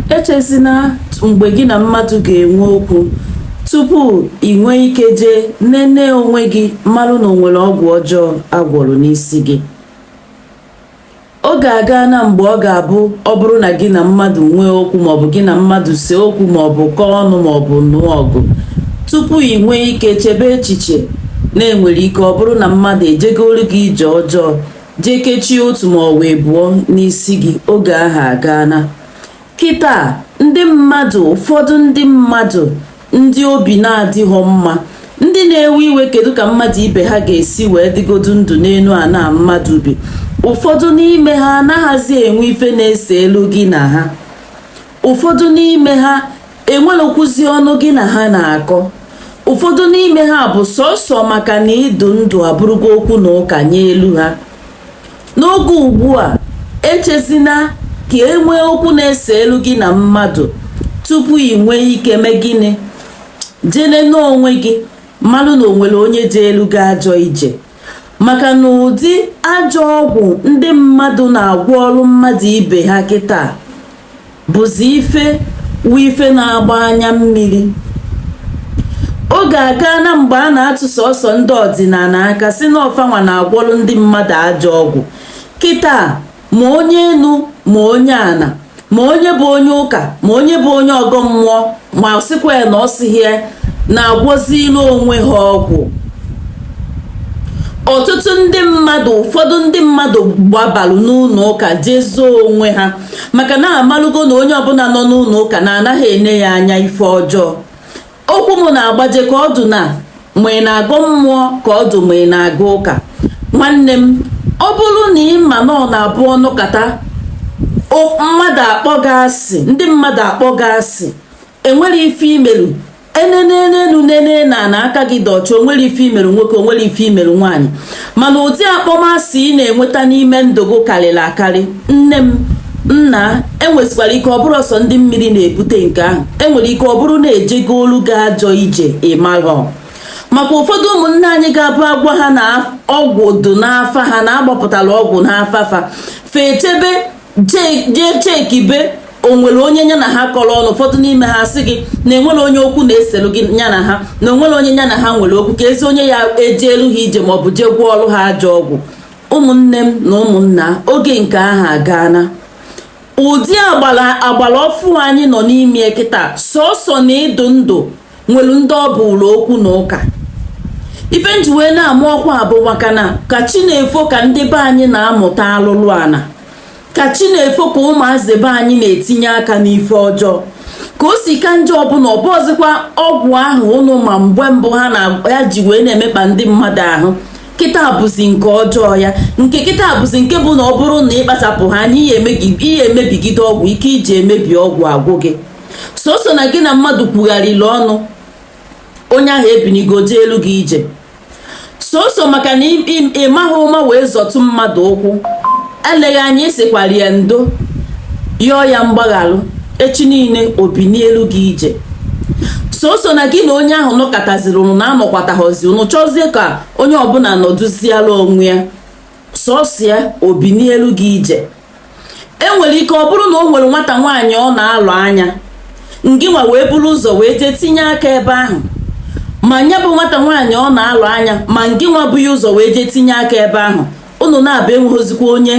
echezina mgbe gị na mmadụ ga-enwe okwu tupu ị nwee ike jee nene onwe gị marụ na o nwere ọgwụ ọjọọ a gwọrọ n'isi gị oge agaana mgbe ọ ga-abụ ọ bụrụ na gị na mmadụ nwee okwu maọbụ gị na mmadụ see okwu maọbụ kọọ ọnụ maọbụ nụọ ọgụ tupu ị nwee ike chebe echiche na e nwere ike ọ bụrụ na mmadụ ejegolu gị ije ọjọọ jee kechie otu maọbụ abụọ n'isi gị oge ahụ agaana kịta ndị mmadụ ụfọdụ ndị mmadụ ndị obi na-adịghọ mma ndị na-ewe iwe kedu ka mmadụ ibe ha ga-esi wee dịgodu ndụ n'enu ana mmadụ bi ụfọdụ n'ime ha anaghịzi enwe ife na-eselu gị na ha ụfọdụ n'ime ha enwerọkwuzi ọnụ gị na ha na-akọ ụfọdụ n'ime ha bụ sọsọ maka na ị dụ ndụ abụrụgo okwu na ụka nyelu ha n'oge ugbu a echezina ka e nwee okwu na-eselu gị na mmadụ tupu ị nwee ike mee gịnị jee nene onwe gị malụ na o nwere onye jeelu gị ajọ ije maka na ụdị ajọ ọgwụ ndị mmadụ na-agwọrụ mmadụ ibe ha kịta bụzi ife wu ife na-agba anya mmiri oge agaana mgbe a na-atụ sọsọ ndị ọdịnana aka sị na ọ fa nwa na-agwọrụ ndị mmadụ ajọ ọgwụ kịta ma onye enu ma onye ana ma onye bụ onye ụka ma onye bụ onye ọgọ mmụọ ma sịkwa ya na ọ sịghị ya na-agwọzilụ onwe ha ọgwụ ọtụtụ ndị mmadụ ụfọdụ ndị mmadụ gbabalụ n'ụnọ ụka jee zoo onwe ha maka na a malụgo na onye ọbụla nọ n'ụnọ ụka na a naghị ene ya anya ife ọjọọ okwu m na-agbaje ka ọ dụ na ma ị na-agọ mmụọ ka ọ dụ ma ị na-aga ụka nwanne m ọ bụrụ na ị ma na ọ na-abụ ọ nọkata mmadụ akpọ gị asị ndị mmadụ akpọ gị asị e nwerọ ife i melu e nene enu nene ana na aka gị dị ọcha o nwerọ ife i melu nwoke o nwerọ ife i melu nwaanyị mana ụdị akpọmasị ị na-enweta n'ime ndụ gị karịrị akarị nne m nna e nwesịkwara ike ọ bụrọ sọ ndị mmiri na-ebute nke ahụ e nwere ike ọ bụrụ na e jegolu gị ajọ ije ị marọ maka ụfọdụ ụmụnne anyị ga-abụ a gwa ha na ọgwụ dụ n'afa ha na a gbapụtara ọgwụ n'afa fa fa echebe jee chekibe o nwere onye nya na ha kọrọ ọnụ ụfọdụ n'ime ha sị gị na e nwerọ onye okwu na-eselu gị nya na ha na o nwerọ onye nya na ha nwere okwu keezi onye ya-ejelu ha ije maọbụ jee gwọọrụ ha ajọ ọgwụ ụmụnne m na ụmụnna oge nke ahụ agaana ụdị agbara ọfụụ anyị nọ n'ime ya kịta sọsọ na ị dụ ndụ nwere ndị ọ bụụlụ okwu na ụka ife m ji wee na-ama ọkwa bụ maka na ka chi na-efo ka ndị be anyị na-amụta alụlụ ana ka chi na-efo ka ụmụazị be anyị na-etinye aka n'ife ọjọọ ka o si ka njọ bụ na ọ bụọzikwa ọgwụ ahụ ụnụ ma mgbe mbụ ha na ya ji wee na-emekpa ndị mmadụ ahụ kịta bụzi nke ọjọọ ya nke kịta bụzi nke bụ na ọ bụrụ na ị kpachapụha anya ị ya-emebigide ọgwụ ike i ji emebi ọgwụ agwụ gị sọsọ na gị na mmadụ kwugharịrị ọnụ onye ahụ ebinigo jeelu gị ije sọsọ maka na ị maghị ụma wee zọtụ mmadụ ụkwụ eleghị anya ị sịkwara ya ndo yọọ ya mgbaghalụ echi niile o binielu gị ije sọsọ na gị na onye ahụ nọkọtaziri ụnụ na-anọkwataghọzi ụnụ chọzie ka onye ọbụla nọdụziara onwe ya sọsọ ya o binielu gị ije enwere ike ọ bụrụ na o nwere nwata nwaanyị ọ na-alụ anya ngịnwa wee buru ya ụzọ wee jee tinye aka ebe ahụ ma nya bụ nwata nwaanyị ọ na-alụ anya ma ngịnwa bu ya ụzọ wee jee tinye aka ebe ahụ unu naabọ enweghịzikwa onye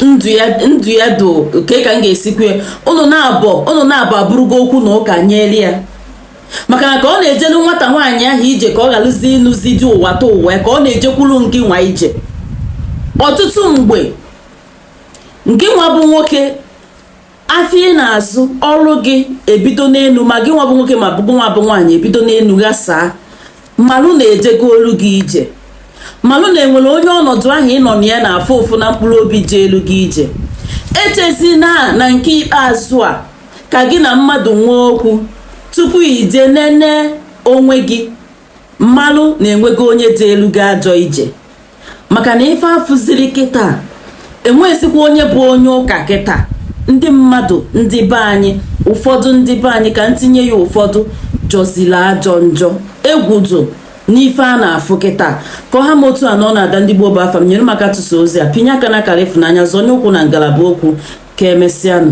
ndụ ya do kee ka m ga-esi kwue unu naabọ abụrụgo okwu na ụka nyere ya maka na ka ọ na-ejelu nwata nwaanyị ahụ ije ka ọ ghalụzi ịnụzi di ụwatụwa ka ọ na-ejekwuru ngịnwa ije ọtụtụ mgbe ngịnwa bụ nwoke afịa ị na-azụ ọrụ gị ebido n'elu ma gị nwa bụ nwoke ma ọ bụ gị nwa bụ nwaanyị ebido n'elu ghasaa malụ na ejegolu gị ije malụ na enwere onye ọnọdụ ahụ ị nọ na ya na-afụ ụfụ na mkpụrụ obi jeelu gị ije echezina na nke ikpeazụ a ka gị na mmadụ nwee okwu tupu i jee nene onwe gị malụ na enwego onye jeelu gị ajọ ije maka na ife afụziri kịta enweghịzikwa onye bụ onye ụka kịta ndị mmadụ ndị be anyị ụfọdụ ndị be anyị ka m tinye ya ụfọdụ jọziri ajọ njọ egwu dị n'ife a na-afụ kịta ka ọ ha m otu a n'ọnụ ada ndị gboo bụ afa m nyere m aka tụsa ozi a pịnye aka na akara ịfụnanya zọnye ụkwụ na ngalaba okwu ka emesịanụ